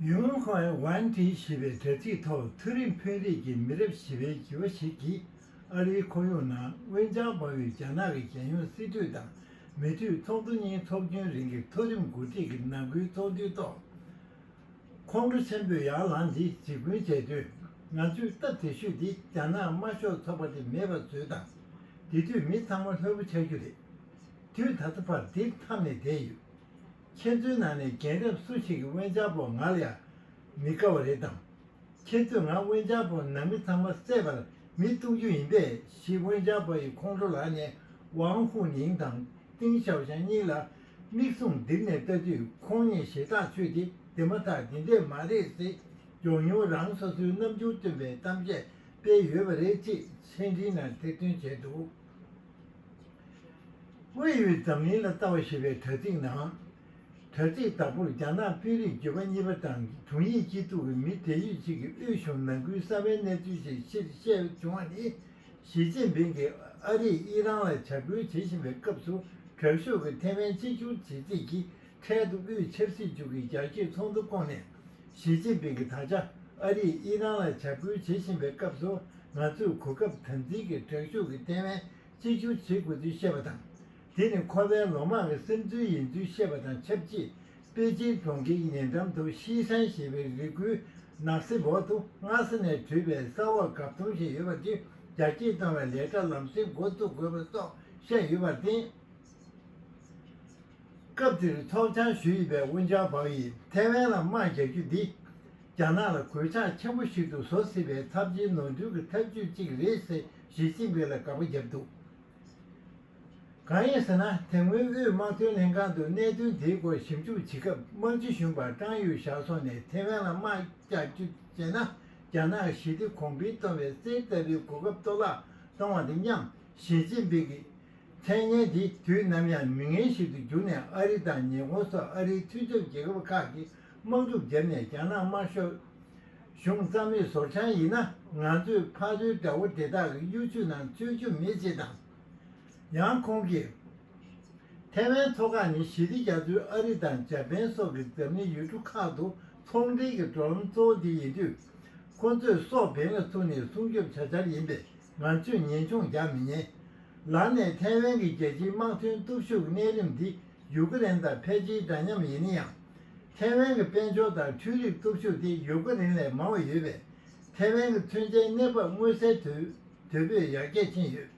ཡུས་ཝུན་ཧོས་ཝུན་ཀྲི་ཞེས་པའི་དྲ་ཚིགས་ཐོག་མཐོ་རིམ་དཔོན་རིགས་ཀྱི་མི་རབས་བཞི་པའི་བྱིས་པ་ཞིག་གིས་ཨ་རིའི་ཁོར་ཡུག་ནང་དབྱིན་ཅང་སྦང་བའི་རྒྱ་ནག་གི་རྒྱལ་ཡོངས་སྲིད་གྲོས་དང་མི་མཐུད་ཚོགས་འདུ་གཉིས་འཚོགས་རྒྱུན་རིང་གི་མཐོ་རིམ་འགོ་ཁྲིད་ཀྱི་ནང་ཁུལ་ཚོགས་འདུའི་ཐོག་ཁོང་ཁྲོ་ཆེན་པོས་ཡར་ལངས་ཏེ་འཇིགས་སྐུལ་བྱས་དོན། ང་ཚོས་སྟབས་བདེ་ཤོས་དེ་རྒྱ་ནག་དམར་ཤོག་ཚོགས་པ་དེ་མེད་པར་བཟོས་དང། དེ་དུས་མི་ཚང་མ་ལྷོད་པོ་ཆགས་རྒྱུ་རེད། དུས་ད་ལྟ་བར་འདིར་འཐམས་ནས་བསྡད་ཡོད། ཁྱེད་ཚོའི་ནང་ནས་རྒན་རབས་སུ་ཞིག་གིས་དབེན་ཅག་པོ་ང་ལ་ཡང་མི་དགའ་བ་རེད་དམ། ཁྱེད་ཚོས་ང་དབེན་ཅག་པོ་ནང་མི་ཚང་མ་བསད་པར་མི་གཏུག་རྒྱུ་ཡིན་པས་ཞིག་དབེན་ཅག་པོ་ཡི་ཁོང་ཁྲོ་ལགས་ནས་ཝང་ཧུའུ་ནིང་དང་ཏིང་ཞའོ་ཞང་གཉིས་ལ་མིག་ཟུང་ལྡིར་ནས་ལྟ་དུས་ཁོང་གཉིས་ཞེ་ཐག་ཆོད་དེ་འདི་མ་ཐག་འདི་འདྲས་མ་རེད་ཟེར་མགྱོགས་མྱུར་རང་སོ་སོའི་རྣམ་འགྱུར་སྟོན་པའི་གཏམ་བཤད་སྤེལ་ཡོད་པ་རེད་ཅེས་མཆན་འབྲི་ན་ཐེར་འདོན་བྱས་འདུག། དབུས་ཡུལ་འཛམ་གླིང་ལ་ལྟ་བ་ཞེས་པའི་དྲ་ཚིགས་ནང། དྲ་ཚིགས་དང་པོར་རྒྱ་ནག་དཔོན་རིགས་བརྒྱུད་པ་གཉིས་པ་དང་དྲུང་ཡིག་སྤྱི་གཙུག་གི་མི་བགྲེས་ཡོད་ཅིག་གིས་དབུས་གཞུང་ནང་ཁུལ་གསར་བའི་གནས་ཚུལ་ཞིག་ཕྱིར་བཤད་བྱུང་བ་ནི། ཞི་ཅིན་ཕིང་གིས་ཨ་རིས་དབྱི་རང་ལ་བྱ་འགུལ་བྱེད་བཞིན་པའི་སྐབས་སུ་དྲག་ཤུགས་ཀྱིས་ཐེ་ཝན་གཅིག་གྱུར་བྱེད་རྩིས་ཀྱི་འཕྲལ་དུ་དབུས་ཆབ་སྲིད་ཅུས་ཀྱི་རྒྱལ་གཅེས་ཚོགས་འདུ་བསྐོངས་ནས། ཞི་ཅིན་ཕིང་གིས་ད་ཆ་ཨ་རིས་དབྱི་རན་ལ་བྱ་འགུལ་བྱེད་བཞིན་པའི་སྐབས་སུ་ང་ཚོས་གོ་སྐབས་དམ་འཛིན་གྱིས་དྲག་ཤུགས་ཀྱི་ཐེ་ཝན་གཅིག་གྱུར་བྱེད་དགོས་ཚུལ་བཤད་པ་དང། དེ་ནི་ཁོ་པའི་ལོ་མང་གི་སེམས་ཚུལ་ཡིན་ཚུལ་བཤད་པ་དང་ཆབས་ཅིག་པེ་ཅིན་གྲོང་ཁྱེར་ཉེ་འགྲམ་དུ་ཤིས་ཧྲན་ཞེས་པའི་རི་ཁུལ་ནགས་གསེབ་འོག་ཏུ་སྔ་ས་ནས་དྲུད་པའི་ས་འོག་གབ་མཐོང་ཞིག་ཡོད་པ་དེ་རྒྱ་སྐྱེད་གཏོང་བའི་ལས་གྲྭ་ལམ་སེང་འགོ་བཙུགས་དགོས་པ་སོགས་བཤད་ཡོད་པར་བརྟེན། སྐབས་དེར་ཚོགས་བཅར་ཞུ་ཡི་པའི་ཝུན་ཅང་བྷག་ཡིས་ཐའེ་ཝན་ལ་དམག་རྒྱག་རྒྱུ་འདི། རྒྱ་ནག་ལ་གོད་ཆག་ཆེན་པོ་ཞིག་ཏུ་བཟོ་སྲིད་པའི་ཚབས་ཆེའི་ནོར་འཁྲུལ་གྱི་ཐབས་ཇུས་གཅིག་རེད་ཟེར་ཞི་ཅིན་ཕིན་ལ་དགག་པ་བརྒྱབ་འདུག་གང་ཡིན་ཟེར་ན་དེ་སྔོན་དབུས་དམག་དོན་ལྷན་ཁང་དུ་གནད་དོན་དེའི་སྐོར་ཞིབ་འཇུག་བྱེད་སྐབས་དམག་སྤྱི་གཞོན་པ་ཀྲང་ཡུས་ཞའོ་སོང་ནས་ཐའེ་ཝན་ལ་དམག་རྒྱག་རྒྱུ་བྱས་ན་རྒྱ་ནག་གི་ཞི་བདེ་གོང་འཕེལ་གཏོང་བའི་རྩེད་ལྟ་བུའི་གོ་སྐབས་གཏོར་བརླག་གཏོང་བ་དང་མཉམ། ཞི་ཅིན་ཕིང་གིས། མཚན་སྙན་དེ་དུས་ནམ་ཡང་མི་ངན་ཞིག་ཏུ་གྱུར་ནས་ཨ་རི་དང་ཉི་ཧོང་སོགས་ཨ་རིའི་མཐུན་ཚོགས་རྒྱལ་ཁབ་ཁག་གིས་དམག་འཁྲུག་བརྒྱབ་ནས་རྒྱ་ནག་དམར་ཤོག་གཞུང་རྩ་མེད་བཟོར་འཆང་ཡིན་ན་ང་ཚོས་ཕ་རོལ་དགྲ་བོ་དེ་དག་གི་གཡོ་བྱུས་ནང་འཚོལ་རྒྱུ་མེད་ཅེས་དང། ཡང་ཁོང་གིས། ཐེ་ཝན་མཚོ་འགག་ནི་ཞི་བདེ་རྒྱ་མཚོའི་ཨ་རི་དང་འཇར་པན་སོགས་ཀྱི་འཛམ་གླིང་ཡུལ་གྲུ་ཁག་ཏུ་ཚོང་འབྲེལ་གྱི་འགྲོ་ལམ་གཙོ་བོ་དེ་ཡིན་དུས། ཁོ་ཚོས་སོག་བེན་ལ་ཚུགས་ནས་སྲུང་སྐྱོབ་བྱ་འཆར་ཡིན་པས་ང་ཚོས་ངེས་འབྱུང་རྒྱག་མི་ཉན། ལར་ནས་ཐའེ་ཝན་གྱི་རྒྱལ་སྤྱིའི་དམག་དོན་སྟོབས་ཤུགས་ཀྱི་གནས་རིམ་འདི་ཡུ་ཀེ་རེན་དང་ཕལ་ཆེའི་འདྲ་མཉམ་ཡིན་ན་ཡང། ཐའེ་ཝན་གྱི་དཔལ་འབྱོར་དང་འཕྲུལ་རིག་སྟོབས་ཤུགས་དེ་ཡུ་ཀེ་རེན་ལས་མང་བ་ཡོད་པས། ཐའེ་ཝན་གྱི་མཚོན་ཆའི་གནས་བབ་མངོན་གསལ་དོད་པོས་ཡར་རྒྱས་ཕྱིན་ཡོད།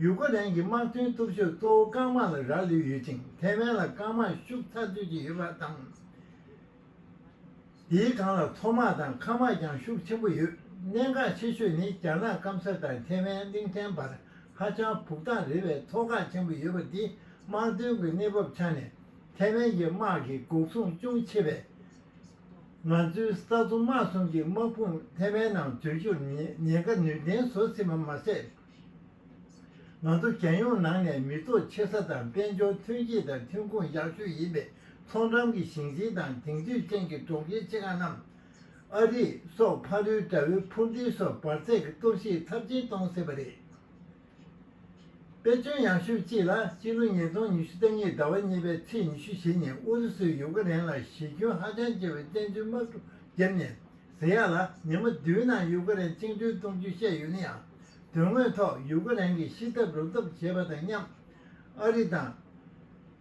ཡུ་ཀེ་རེན་གྱི་དམག་དོན་སྟོབས་ཤུགས་གཙོ་བོ་རྐང་དམག་ལ་རག་ལུས་ཡོད་ཅིང་ཐའེ་ཝན་ལ་རྐང་དམག་ཤུགས་ཚ་དུས་ཀྱི་ཡོད་པ་དང། འདིའི་སྒང་ལ་མཚོ་དམག་དང་མཁའ་དམག་ཀྱང་ཤུགས་ཆེན་པོ་ཡོད། གནད་འགག་ཆེ་ཤོས་ནི་རྒྱ་ནག་སྐམ་ས་དང་ཐེ་ཝན་གླིང་ཕྲན་བར་ཧ་ཅང་བུག་ཐང་རེ་བའི་མཐོ་སྒང་ཆེན་པོ་ཡོད་པ་འདི་དམག་དོན་གྱི་གནས་བབ་ཆ་ནས་ཐེ་ཝན་གྱི་དམག་གི་འགོག་སྲུང་ཅུང་ཆེ་བས། ང་ཚོའི་ས་མཚོ་དམག་གསུམ་གྱི་དམག་དཔུང་ཐེ་ཝན་ནང་འཛུལ་རྒྱུར་ཉེན་ཁ་ནུས་ལྡན་བཟོ་སྲིད་པ་མ་ཟད། ང་ཚོ་རྒྱལ་ཡོངས་ནང་ནས་མི་ཐོག་ཆེ་ས་དང་དཔལ་འབྱོར་ཐོན་སྐྱེད་དང་ཐོན་ཁུངས་ཡག་ཤོས་ཡིན་པའི་མཐོང་གྲམ་གྱི་ཞིང་ཆེན་དང་དེང་དུས་ཅན་གྱི་གྲོང་ཁྱེར་ཆེ་ཁག་རྣམས། ཨ་རི་སོགས་ཕ་རོལ་དགྲ་བོའི་འཕུར་མདེལ་སོགས་འབར་ཚད་ཀྱི་སྟོབས་ཤེད་ཚབས་ཆེན་གཏོང་སྲིད་པ་རེད། དཔེ་མཚོན་ཡག་ཤོས་གཅིག་ལ་སྤྱི་ལོ་ཉིས་སྟོང་ཉི་ཤུ་རྩ་གཉིས་ཟླ་བ་གཉིས་པའི་ཚེས་ཉི་ཤུ་བཞི་ཉིན་ཨུ་རུ་སུས་ཡུག་ཀེ་རེན་ལ་གཞི་ཁྱོན་ཧ་ཅང་ཆེ་བའི་བཙན་འཛུལ་དམག་གྲུ་བརྒྱབ་ནས་ཟེར་ཡག་ལ་ཉིན་མོ་བདུན་ནང་ཡུག་ཀེ་རན་བཅིངས་འགྲོལ་གཏོང་རྒྱུ་བཤད་ཡོད་ན་ཡང་དོན་དངོས་ཐོག་ཡུག་ཀེ་རན་གྱི་ཤི་ཐབས་རུབ་ཐབས་བྱེད་པ་དང་མཉམ། ཨ་རི་དང།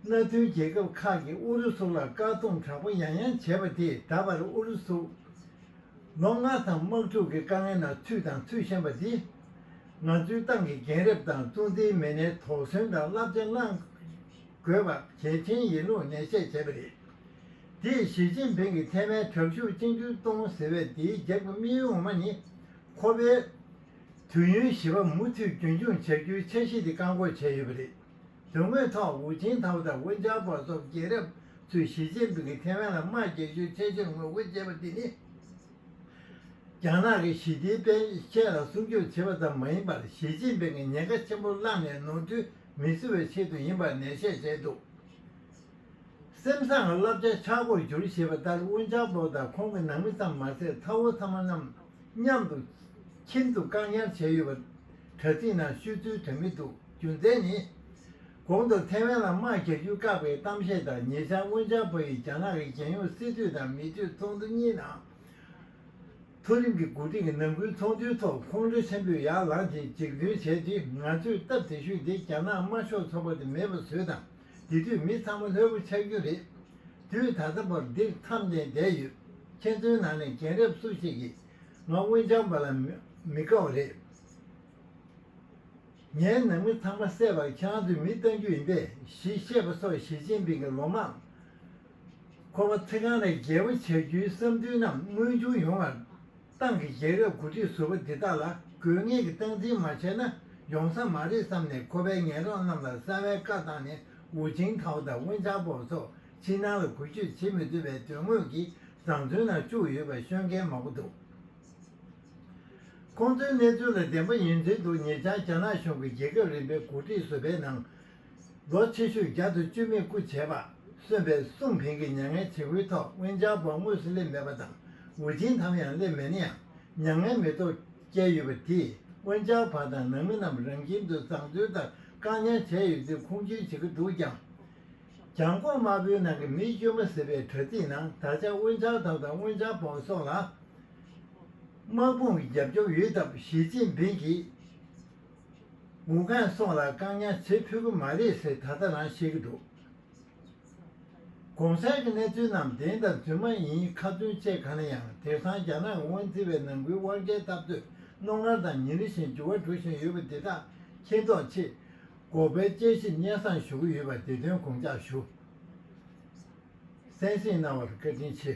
མནའ་མཐུན་རྒྱལ་ཁབ་ཁག་གིས་ཨུ་རུ་སུ་ལ་བཀག་སྡོམ་དྲག་པོ་ཡང་ཡང་བྱས་པ་དེས་ད་བར་ཨུ་རུ་སུ། ལོ་ལྔ་ཙམ་དམག་འཁྲུག་གི་དཀའ་ངལ་ནང་ཚུད་དང་ཚུད་བཞིན་པ་འདིས། ང་ཚོའི་ཏང་གི་རྒན་རབས་དང་གཙོ་འཛིན་མི་སྣའི་དོགས་ཟོན་དང་བསླབ་བྱ་བླངས་དགོས་པ་གལ་ཆེན་ཡིན་ལུགས་ནན་བཤད་བྱས་པ་རེད། དེས་ཞི་ཅིན་ཕིང་གི་ཐའེ་ཝན་དྲག་ཤུགས་གཅིག་འགྱུར་གཏོང་ཟེར་བའི་དེའི་རྒྱབ་ཀྱི་དམིགས་ཡུལ་ངོ་མ་ནི། ཁོ་པས་དུས་ཡུན་བཞི་པ་མུ་མཐུད་རྒྱུན་འཁྱོངས་བྱ་རྒྱུའི་འཆར་གཞི་དེ་བཀག་འགོག་བྱས་ཡོད་པ་རེད། དོན་དངོས་ཐོག་ཝུ་ཅིན་ཐའོ་དང་ཝུན་ཅང་པོ་སོགས་རྒྱལ་རབས་ཚོས་ཞི་ཅིན་ཕིང་གིས་ཐའེ་ཝན་ལ་དམག་རྒྱག་རྒྱུའི་འཆར་གཞིར་ངོ་རྒོལ་བྱས་པ་དེ་ནི། རྒྱ་ནག་གི་ཞི་བདེའི་དཔལ་ཆས་ལ་སྲུང་སྐྱོབ་བྱེད་པ་ཙམ་མ་ཡིན་པར་ཞི་ཅིན་ཕིང་གི་ཉེན་ཁ་ཆེན་པོ་བསླངས་ནས་ནོར་འཁྲུལ་མི་བཟོ་བའི་ཆེད་དུ་ཡིན་པར་ནན་བཤད་བྱས་འདུག་སེམས་བཟང་བསླབ་བྱ་ཆག་སྒོར་བསྒྱུར་ཞེས་པ་ལྟར་དབུ་འཇང་པོ་དང་ཁོང་གི་ནང་མི་ཙམ་མ་ཟད་ཚ་བོ་ཚ་མོ་རྣམས་མཉམ་དུ་ཁྱིམ་དུ་བཀག་ཉར་བྱས་ཡོད་པ། དྲ་ཚིགས་ནང་ཤོད་ཚུལ་དོན་མི་འདུག་རྒྱུ་མཚན་ནི། གོང་དུ་ཐེ་ཝན་ལ་དམག་རྒྱག་རྒྱུ་བཀག་པའི་གཏམ་བཤད་དང་ཉེ་ཆར་དབུ་འཇང་པོ་ཡིས་རྒྱ་ནག་གི་རྒྱལ་ཡོངས་སྲིད་གྲོས་དང་མི་གྲོས་ཚོགས་འདུ་གཉིས་ནང་མཐོ་རིམ་གྱི་འགོ་ཁྲིད་ཀྱི་ནང་ཁུལ་ཚོགས་འདུའི་ཐོག་ཁོང་ཁྲོ་ཆེན་པོས་ཡར་ལངས་ཀྱིས་འཇིགས་འདོན་བྱས་ཏེ་ང་ཚོས་སྟབས་བདེ་ཞུས་ཏེ་རྒྱ་ནག་དམར་ཤོག་ཚོགས་པ་དེ་མེད་པ་བཟོས་དང་དེ་དུས་མི་ཚང་མ་ལྷོད་པོ་ཆགས་རྒྱུ་རེད། དུས་ད་ལྟ་བར་འདིར་འཚམས་གདན་བསྡད་ཡོད་མཁན་ཚོའི་ནང་ནས་རྒན་རབས་སུ་ཞིག་གིས་ང་སྔོན་སྦྱངས་པ་ལ་མི་དགའ་བ་རེད། ངའི་ནང་མི་ཚང་མ་བསད་པར་ཁྱེད་རང་ཚོས་མི་བཏང་རྒྱུ་ཡིན་པས་ཞེས་བཤད་པ་སོགས་ཞི་ཅིན་ཕིང་གི་ལོ་མང་ཁོ་པ་ཚེ་གང་ལ་རྒྱལ་པོ་བྱ་རྒྱུའི་བསམ་འདུན་རྣམས་མངོན་འགྱུར་ཡོང་བར། ཏང་གི་རྒྱལ་ཁབ་འགོ་ཁྲིད་ཟུར་པ་འདི་དག་ལ་དགོས་ངེས་ཀྱི་སྟངས་འཛིན་མ་བྱས་ན་ཡོང་ས་མ་རེད་བསམ་ནས་ཁོ་པས་ངེད་རང་རྣམས་ལ་གསང་བའི་བཀའ་བཏང་ནས་ཝུ་ཅིང་ཐའོ་དང་ཝུན་ཅང་པོ་སོགས་ཕྱི་ནང་ལ་གུས་སྤྱོད་བྱེད་མི་འདོད་པའི་དོན་དངོས་ཀྱི་བཟང་བཙོན་ནང་བཅུག་ཡོད་པ་ཤོད་མཁན་མང་པོ་འདུག་ཁོང་ཚོའི་གནས་ཚུལ་ལ་བདེན་པ་ཡོད་མཛེས་འདུག་ཉེ་ཆར་རྒྱ་ནག་གཞུང་གི་རྒྱལ་ཁབ་རིམ་པའི་འགོ་ཁྲིད་ཟུར་པའི་ནང་རྫོགས་ཆེ་ཤོས་རྒྱ་མཚོ་བཅོས་མིན་སྐུ་བྱེད་པ་གསོན་པའི་གསུང་འཕེལ་གྱི་མྱ་ངན་བྱེད་ཁུལ་ཐོག་དབེན་འཇགས་པ་དངོས་སུ་སླེབས་མེད་པ་དང་འུར་ཆེན་དམ་ཡང་སླེབས་མེད་ན་ཡང་མྱ་ངན་མེད་ཐོག་བསྐྱལ་ཡོད་པ་དེས་དབེན་འཇགས་བ་དང་ནང་མི་རྣམས་རང་ཁྱིམ་དུ་བཟང་བཙོན་ལྟར་བཀག་ཉར་བྱས་ཡོད་ཚུལ་ཁུངས་བཅོལ་བྱེད་ཀྱི་འདུག་ཀྱང། གྱང་གོང་དམར་པོའི་ནང་གི་མི་བཅོས་མ་ཟེར་བའི་དྲ་ཚིགས་ནང་ད་ཆ་དབེན་འཇགས་དམ་དང་དབེན་འཇགས་བམ་སོགས་ལ་དམག་དཔུང་གི་རྒྱབ་སྐྱོར་ཡོད་སྟབས་ཞི་ཅིན་ཕིན་གྱིས་ཝུའུ་ཁན་སོགས་ལ་བཀག་ཉར་བྱེད་ཕོད་ཀྱི་མ་རེད་ཟེར་ད་ལྟ་རང་བཤད་ཀྱི་འདུག་གོང་གསལ་གྱི་གནས་ཚུལ་རྣམས་བདེན་དང་རྫུན་མ་ཡིན་ཁ་ཚོན་བཅད་གང་ན་ཡང་དེང་སང་རྒྱ་ནག་གི་དབང་འཛིན་པའི་ནང་ཁུལ་དབང་སྐལ་ཐབས་འདོད་རྣོ་ངར་དང་ཉིན་རེ་བཞིན་འགྱུར་བ་འགྲོ་བཞིན་ཡོད་པ་འདི་དག་མཁྱེན་རྟོགས་ཆེད། འགོག་པའི་དཔྱད་ཞིབ་སྙན་བཟང་ཞུ་གི་ཡོད་པ་འདི་དོན་དགོངས་འཇགས་ཞུ། གསན་གཟིགས་གནང་བར་བཀའ་དྲིན་ཆེ།